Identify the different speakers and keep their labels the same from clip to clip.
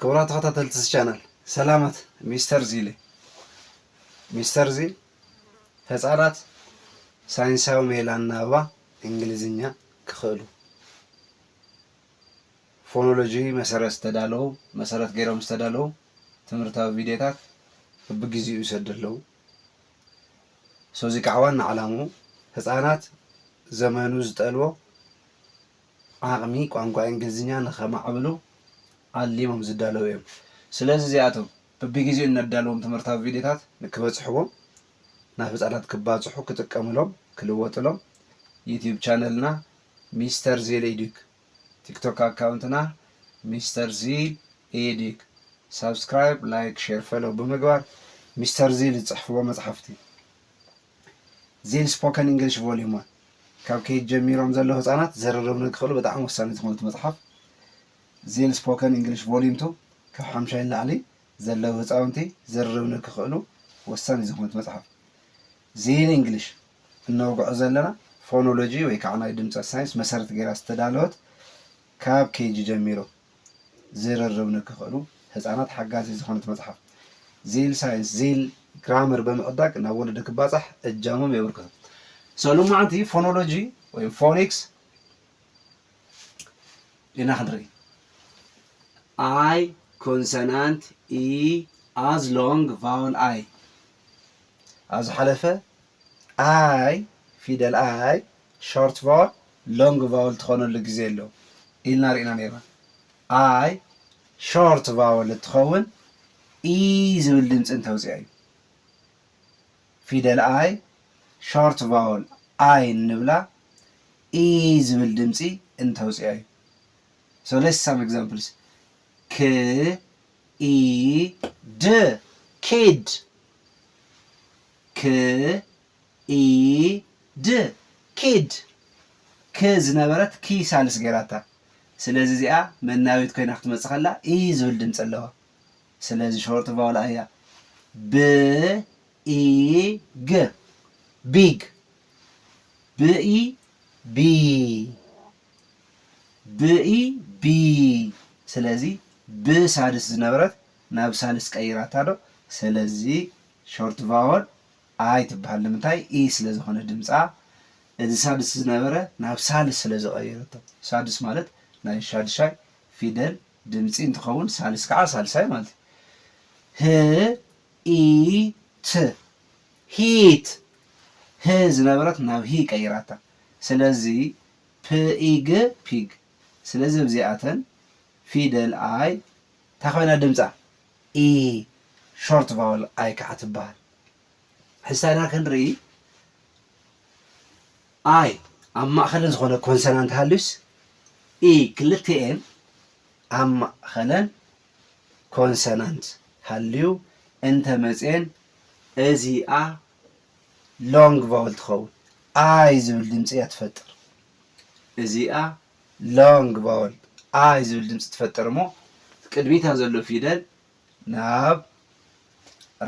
Speaker 1: ክቡራት ተኸታተልቲ እዚ ቻናል ሰላማት ሚስተር ዚል ሚስተር ዚል ህፃናት ሳይንሳዊ ሜላ ኣናብባ እንግሊዝኛ ክኽእሉ ፎኖሎጂ መሰረት ዝተዳለዉ መሰረት ገይሮም ዝተዳለዉ ትምህርታዊ ቪድዮታት ብብግዜኡ ይሰዱ ኣለዉ ሰዚ ከዓ ዋና ዓላምኡ ህፃናት ዘመኑ ዝጠልቦ ዓቕሚ ቋንቋ እንግሊዝኛ ንኸማዕብሉ ዓሊሞም ዝዳለዉ እዮም። ስለዚ እዚኣቶም በብጊዜኡ እነዳልዎም ትምህርታዊ ቪድዮታት ንክበጽሕዎም ናብ ህጻናት ክባጽሑ ክጥቀምሎም ክልወጥሎም ዩትዩብ ቻነልና ሚስተር ዚል ኤዱክ ቲክቶክ ኣካውንትና ሚስተር ዚል ኤዱክ ሳብስክራይብ ላይክ ሼር ፈሎው ብምግባር ሚስተር ዚል ዝጽሕፍዎ መጽሓፍቲ ዚን ስፖከን ኢንግሊሽ ቮልዩም ዋን፣ ካብ ኬጅ ጀሚሮም ዘለዉ ህጻናት ዝርርብ ንክኽእሉ ብጣዕሚ ወሳኒ ዝኾነ እቲ መጽሓፍ። ዚን ስፖከን ኢንግሊሽ ቮልዩም ቱ፣ ካብ ሓምሻይ ንላዕሊ ዘለዉ ህጻውንቲ ዝርርብ ንክኽእሉ ወሳኒ ዝኾነ እቲ መጽሓፍ። ዚን ኢንግሊሽ፣ እነውግዖ ዘለና ፎኖሎጂ ወይ ከዓ ናይ ድምጸት ሳይንስ መሰረት ገይራ ዝተዳለወት ካብ ኬጅ ጀሚሮም። ዝርርብ ንክኽእሉ ህፃናት ሓጋዚት ዝኾነት መፅሓፍ ዚል ሳይንስ ዚል ግራመር ብምዕዳግ ናብ ወለዲ ክባፃሕ እጃሞም የበርክቱ። So ሎማዓንቲ ፎኖሎጂ ወይ ፎኒክስ ኢና ክንርኢ። I ኮንሰናንት ኢ ኣዝ ሎንግ ቫወል ኣይ ኣብ ዝሓለፈ ኣይ ፊደል ኣይ ሾርት ቫወል ሎንግ ቫወል ትኾነሉ ግዜ ኣሎ ኢልና ሪእና ነይርና። ኣይ ሾርት ቫወል እትኸውን ኢይ ዝብል ድምፂ እንተውፅኣ እዩ። ፊደል ኣይ ሾርት ቫወል ኣይ እንብላ ኢይ ዝብል ድምፂ እንተውፅኣ እዩ። So let's some examples. ክ ኢ ድ kid ክ ኢ ድ ኪድ ክ ዝነበረት ኪ ሳልስ ገይራታ ስለዚ እዚኣ መናዊት ኮይና ክትመጽእ ከላ ኢ ዝብል ድምጺ ኣለዋ ስለዚ ሾርት ቫውል ኣያ ብ ኢ ግ ቢግ ብ ኢ ቢ ብ ኢ ቢ ስለዚ ብ ሳድስ ዝነበረት ናብ ሳልስ ቀይራታ ዶ ስለዚ ሾርት ቫወል ኣይ ትብሃል ንምንታይ ኢ ስለ ዝኮነ ድምጻ እዚ ሳድስ ዝነበረ ናብ ሳልስ ስለ ዝቀየረቶ ሳድስ ማለት ናይ ሻድሻይ ፊደል ድምጺ እንትከውን ሳልስ ከኣ ሳልሳይ ማለት እዩ ህ ኢ ት ሂት ህ ዝነበረት ናብ ሂ ቀይራታ ስለዚ ፕኢግ ፒግ ስለዚ ኣብዚኣተን ፊደል ኣይ ታይ ኮይና ድምጻ ኢ ሾርት ቫወል ኣይ ከኣ ትበሃል። ሕሳይና ክንርኢ ኣይ ኣብ ማእከለን ዝኾነ ኮንሰናንት ሃልዩስ ኢ ክልቲኤን ኣብ ማእከለን ኮንሰናንት ሃልዩ እንተ መጽየን እዚኣ ሎንግ ቫወል ትኸውን ኣይ ዝብል ድምጺ እያ ትፈጥር እዚኣ ሎንግ ቫወል ኣይ ዝብል ድምጺ ትፈጥር እሞ ቅድሚታ ዘሎ ፊደል ናብ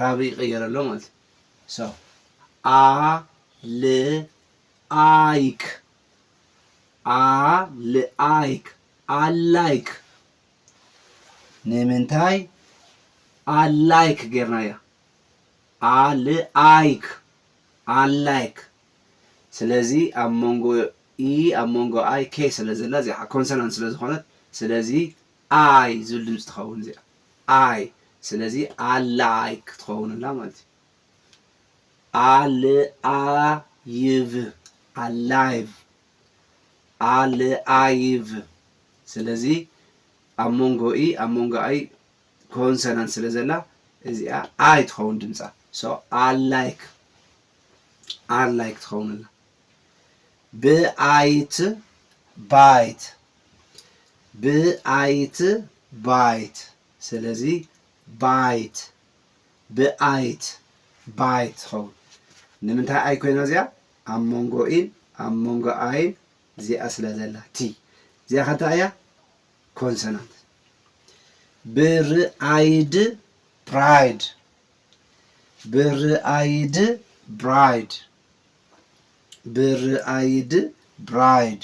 Speaker 1: ራብእ ይቅየር ኣሎ ማለት እዩ so a l ኣይክ a l ኣይክ ኣላይክ ንምንታይ ኣላይክ ጌርናያ ኣል ኣይክ ኣላይክ ስለዚ ኣብ መንጎ E ኣብ መንጎ I K ስለ ዘላ እዚኣ ከኣ ኮንሰናንት ስለ ዝኾነት ስለዚ I ዝብል ድምጺ ትኸውን እዚኣ I ስለዚ ኣላይ ክትኸውን ኣላ ማለት እዩ። ኣልኣይቭ ኣላይቭ ኣልኣይቭ ስለዚ ኣብ መንጎ E ኣብ መንጎ I ኮንሰናንት ስለ ዘላ እዚኣ I ትኸውን ድምጻ so ኣላይክ ኣር ላይክ ትኸውን ኣላ ብኣይት ባይት ብኣይት ባይት ስለዚ ባይት ብኣይት ባይት ትኸውን ንምንታይ ኣይ ኮይና እዚኣ ኣብ መንጎ ኢን ኣብ መንጎ ኣይን እዚኣ ስለ ዘላ ቲ እዚኣ ከንታ እያ ኮንሶናንት ብርኣይድ ፕራይድ ብርኣይድ ብራይድ ብርኣይድ ብራይድ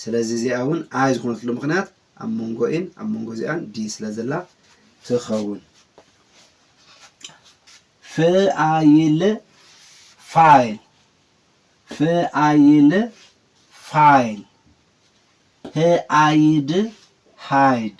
Speaker 1: ስለዚ እዚኣ እውን ኣይ ዝኾነትሉ ምክንያት ኣብ መንጎ ኢን ኣብ መንጎ እዚኣን ዲ ስለ ዘላ ትኸውን ፍኣይል ፋይል ፍኣይል ፋይል ህኣይድ ሃይድ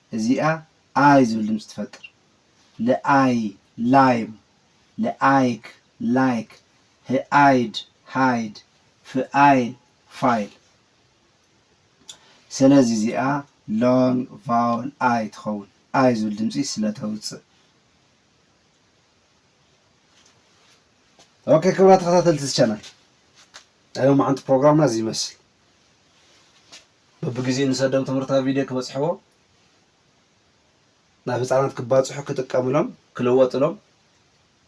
Speaker 1: እዚኣ ኣይ ዝብል ድምፂ ትፈጥር ልኣይ ላይም ልኣይክ like ህኣይድ hide ፍኣይል file ሰለዚ እዚኣ long vowel ኣይ ትኸውን ኣይ ዝብል ድምፂ ስለተውፅእ ኦኬ ክብራ ተኸታተልቲ እዚ ቻናል ናይ ሎማዓንቲ ፕሮግራምና እዚ ይመስል በብግዚኡ ንሰዶም ትምህርታዊ ቪድዮ ክበጽሕዎ ናብ ህጻናት ክባጽሑ ክጥቀምሎም ክልወጥሎም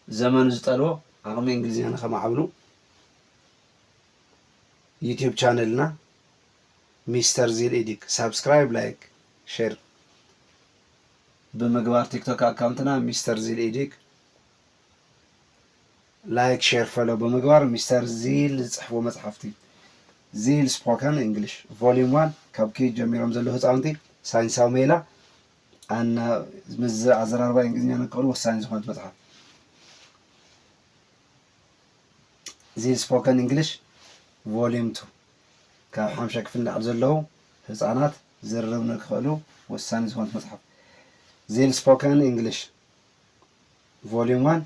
Speaker 1: ዘመኑ ዝጠልቦ ዓቕሚ እንግሊዝኛ ንከማዕብሉ ዩቲዩብ ቻነልና ሚስተር ዚል ኤዲክ ሳብስክራይብ ላይክ ሼር ብምግባር ቲክቶክ ኣካውንትና ሚስተር ዚል ኤዲክ ላይክ ሼር ፈሎ ብምግባር ሚስተር ዚል ዝጽሕፍዎ መጽሓፍቲ ዚል ስፖከን እንግሊሽ ቮሊዩም ዋን ካብ ኪዩት ጀሚሮም ዘለዉ ህጻውንቲ ሳይንሳዊ ሜላ ኣና ምስ ኣዘራርባ እንግሊዝኛ ንክእሉ ወሳኒ ዝኾነት መጽሓፍ ዚል ስፖከን እንግሊሽ ቮሊዩም ቱ ካብ ሓምሻይ ክፍሊ ንላዕሊ ዘለዉ ህፃናት ዝርርብ ንክኽእሉ ወሳኒ ዝኾነት መፅሓፍ ዚል ስፖከን እንግሊሽ Volume One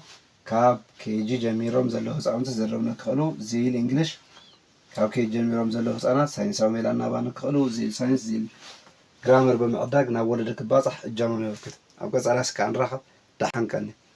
Speaker 1: ካብ ኬጂ ጀሚሮም ዘለዉ ህጻውንቲ ዝርርብ ንክኽእሉ ዝይል ኢንግሊሽ ካብ ኬጂ ጀሚሮም ዘለዉ ህጻናት ሳይንሳዊ ሜላ ኣናባብ ንክኽእሉ ዝይል ሳይንስ ዝይል ግራመር ብምዕዳግ ናብ ወለዲ ክባጻሕ እጃሞም የበርክቱ። ኣብ ቀጻሊ ኣስካዕ ንራኸብ። ደሓን ቀኒ።